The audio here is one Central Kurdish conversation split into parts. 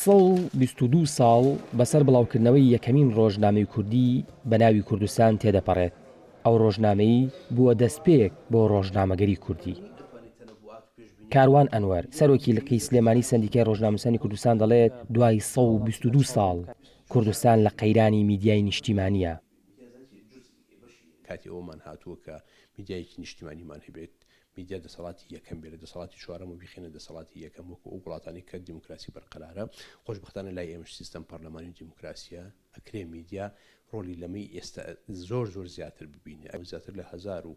سەد و بیست و دوو ساڵ بەسەر بڵاوکردنەوەی یەکەمین ڕۆژنامەی کوردی بە ناوی کوردستان تێدەپەڕێت، ئەو ڕۆژنامەی بووە دەستپێک بۆ ڕۆژنامەگەری کوردی. کاروان ئەنوەر، سەرۆکی لقی سلێمانی سەندیکای ڕۆژنامەنووسانی کوردستان دەڵێت، دوای سەد و بیست و دوو ساڵ کوردستان لە قەیرانی میدیای نیشتیمانییە. کاتی ئەوەمان هاتووە کە میدیایەکی نیشتیمانیمان هەبێت، میدیا دەسەڵاتی یەکەم بێ لە دەسەڵاتی چوارەم و بیخەینە دەسەڵاتی یەکەم وەکو ئەو وڵاتانەی کە دیموکراسی بەرقەرارە، خۆشبەختانە لای ئێمەش سیستەم پەرلەمانی و دیموکراسییە، ئەکرێ میدیا ڕۆڵی لەمەی ئێستا زۆر زۆر زیاتر ببینێ، ئەوە زیاتر لە هەزار و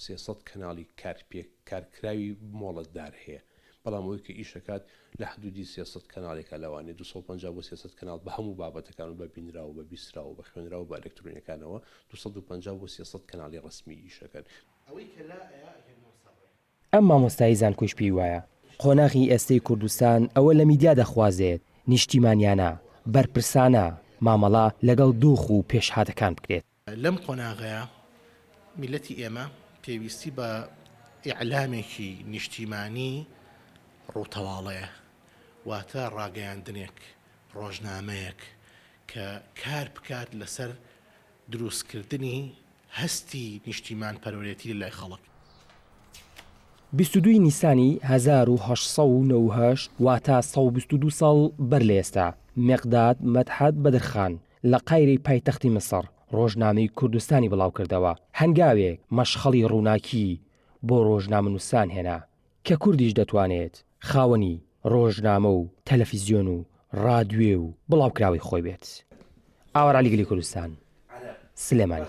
سێ سەد کەناڵی کار پێ کارکراوی مۆڵەتدار هەیە، بەڵام ئەوەی کە ئیش ئەکات لە حدوودی سێ سەد کەناڵێکە لەوانەیە دوو سەد و پەنجا بۆ سێ سەد کەناڵ بە هەموو بابەتەکان و بە بینراو و بە بیستراو و بە خوێنراو و بە ئەلەکترۆنیەکانەوە دوو سەد و پەنجا بۆ سێ سەد کەناڵی ڕەسمی ئیش ئەکەن، ئەوەی کە لا ئەیا ئەگەر نۆ سەڕێ. ئەم مامۆستای زانکۆیش پێی وایە قۆناغی ئێستەی کوردستان ئەوە لە میدیا دەخوازێت نیشتیمانیانە، بەرپرسانە مامەڵە لەگەڵ دۆخ و پێشهاتەکان بکرێت. لەم قۆناغەیا میللەتی ئێمە پێویستی بە ئیعلامێکی نیشتیمانی ڕووتەواڵەیە، واتە ڕاگەیاندنێک، ڕۆژنامەیەک کە کار بکات لەسەر درووستکردنی هەستی نیشتیمانپەروەرێتی لەلای خەڵک. بیست و دوو ی نیسانی هەزار و هەشت سەد و نەوە و هەشت واتە سەد و بیست و دوو ساڵ بەر لە ئێستا، مێقداد مەدحەت بەدرخان لە قایرەی پایتەختی میسڕ ڕۆژنامەی کوردستانی بڵاوکردەوە. هەنگاوێک مەشخەڵی ڕووناکیی بۆ ڕۆژنامەنووسان هێنا. کە کوردیش دەتوانێت خاوەنی ڕۆژنامە و تەلەفیزیۆن و ڕادوێ و بڵاوکراوەی خۆی بێت. ئاوارەعەلی گەلی کوردستان، سلێمانی.